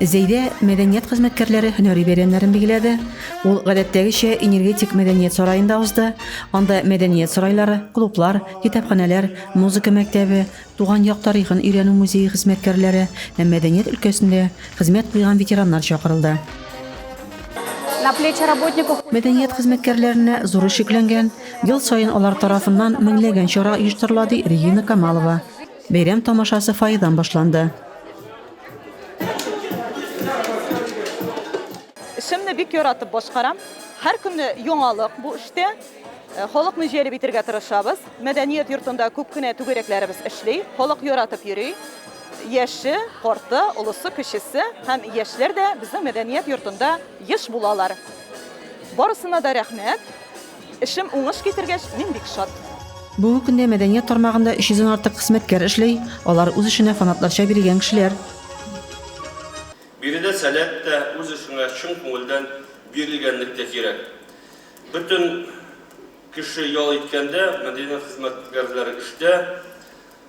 Зәйдә мәдәният хезмәткәрләре һөнәри бәйрәмнәрен билгеләде. Ул гадәттәгечә Энергетик мәдәният сараенда узды. Анда мәдәният сарайлары, клублар, китапханәләр, музыка мәктәбе, Туган як тарихын өйрәнү музее хезмәткәрләре һәм мәдәният өлкәсендә хезмәт куйган ветераннар чакырылды. Мәдәният хезмәткәрләренә зур эш йөкләнгән, ел саен алар тарафыннан меңләгән чара оештырыла, ди Регина Камалова. Бәйрәм тамашасы фойедан башланды. Эшемне бик яратып башкарам. Һәр көнне яңалык бу эштә. Э, халыкны җәлеп итергә тырышабыз. Мәдәният йортында күп кенә түгәрәкләребез эшли. Халык яратып йөри. Яше, карты, олысы, кечесе һәм яшьләр дә безнең мәдәният йортында еш булалар. Барысына да рәхмәт. Эшем уңыш китергәч, мин бик шат. Бүгенге көндә мәдәният тармагында 300 дән артык хезмәткәр эшли, алар үз эшенә фанатларча бирелгән кешеләр. Биредә сәләт тә, үз эшеңә чын күңелдән бирелгәнлек тә кирәк. Бөтен кеше ял иткәндә, мәдәният хезмәткәрләре эштә.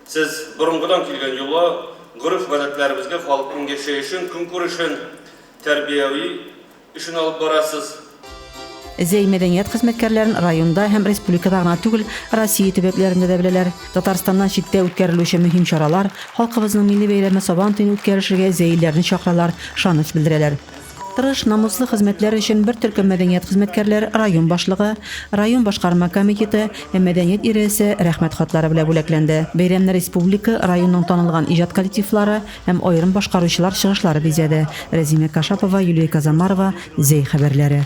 Сез борынгыдан килгән йола, гореф-гадәтләребезгә, халыкның яшәешен, көнкүрешен тәрбияви. Эшен алып барасыз. Зәй мәдәният хезмәткәрләрен районда һәм республикада гына түгел, Россия төбәкләрендә дә беләләр. Татарстаннан читтә үткәрелүче мөһим чаралар, халкыбызның милли бәйрәме Сабан туен үткәрешергә зәйлеләрне чакыралар, ышаныч белдерәләр. Тырыш, намуслы хезмәтләр өчен бер төркем мәдәният хезмәткәрләр район башлыгы, район башкарма комитеты һәм мәдәният идарәсе Рәхмәт хатлары белән бүләкләнде. Бәйрәмне республика, районның танылган иҗат коллективлары, һәм аерым башкаручылар чыгышлары бизәде. Рәзимә Кашапова, Юлия Казамарова, Зәй хәбәрләре.